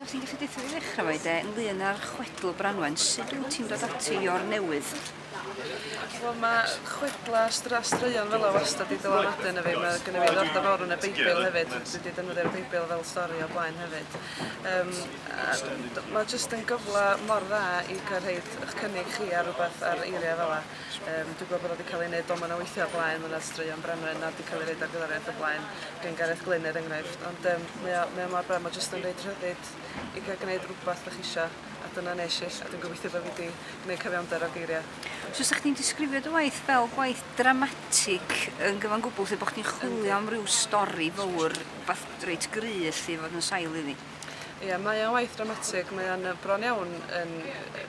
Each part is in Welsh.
Os ti'n gallu deitha fi ddechrau fo i de, ynglyn â'r chwedl Branwen, sut wyt ti'n dod ati i o'r newydd? Wel, mae chwedla stra straeon fel o wastad wedi dylanwadu yna fi. Mae gen i fi ddordeb fawr yn y Beibl hefyd. Dwi wedi defnyddio'r Beibl fel stori o blaen hefyd. Um, mae jyst yn gyfle mor dda i cael rhaid eich cynnig chi ar rhywbeth ar eiriau fel yna. Yym dwi'n gweld bod o 'di ca'l ei neud doman o weithia' o blaen ma' 'na straeon Branwen na 'di ca'l ei roid ar gyfar iaith o blaen gen Gareth Glyn er enghraifft ond yym mae o mae o mor braf ma' jyst yn roid rhyddid i ga'l gneud rwbath 'dach chi isio a dyna nesh i a dwi'n gobeithio bo' fi 'di gneud cyfiawnder o geiria'. So 'sach chdi'n disgrifio dy waith fel gwaith dramatig yn gyfan gwbwl lle bo' chdi'n chwilio am ryw stori fowr wbath reit gry' elly i fod yn sail iddi? Ia mae o'n waith dramatig mae o'n yy bron iawn yn yy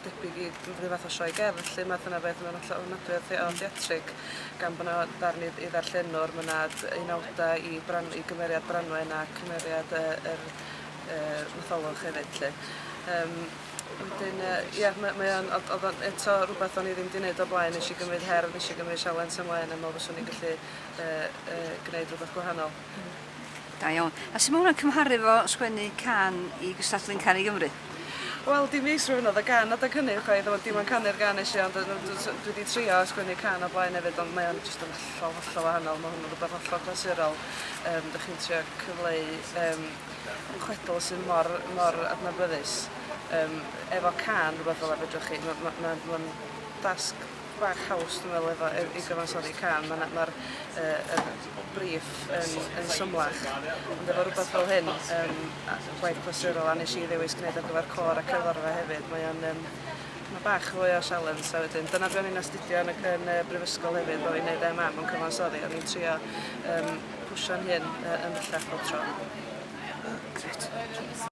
debyg i ryw fath o sioe gerdd lle ma' dyna beth ma'n hollol ofnadwy o thea- o theatrig gan bo' 'na ddarn i i ddarllenwr ma' 'na d- unawda i bran- i gymeriad Branwen a cymeriad yy yr yy Matholwch hefyd 'lly. Yym wedyn yy ia ma' mae o'n od- odd o'n eto rwbeth o'n i ddim 'di neud o'r blaen nesh i gymryd her nesh i gymryd sialens ymlaen a me'wl fyswn i'n gallu yy yy gneud rwbeth gwahanol. Hmm. Da iawn. A sut mae hwnna'n cymharu efo sgwennu cân i gystadlu'n Can i Gymru? Wel, dim fi sydd sgrifennodd y gan adeg hynny chwaith, ond dim ond canu'r gan es i ond yy dw- dw- dwi 'di trio sgwennu cân o'r blaen efyd ond mae o'n jyst yn hollol hollol wahanol ma' hwn yn rwbeth hollol glasurol yym 'dych chi'n trio cyfleu yym chwedl sydd mor mor adnabyddus yym efo cân rwbeth fela fedrwch chi ma' ma' ma'n ma'n dasg bach haws dwi'n meddwl efo yy i gyfansoddi cân ma' 'na ma'r yy yr briff yn yn symlach ond efo rwbath fel hyn yym a gwaith clasurol a nes i ddewis gneud ar gyfer côr a cerddorfa hefyd mae o'n yym ma' bach fwy o sialens a wedyn dyna be' o'n i'n astudio yn y c- yn y brifysgol hefyd bo' fi'n neud Em Am yn cyfansoddi o'n i'n trio yym pwsho'n hun yy yn bellach bob tro. Grêt.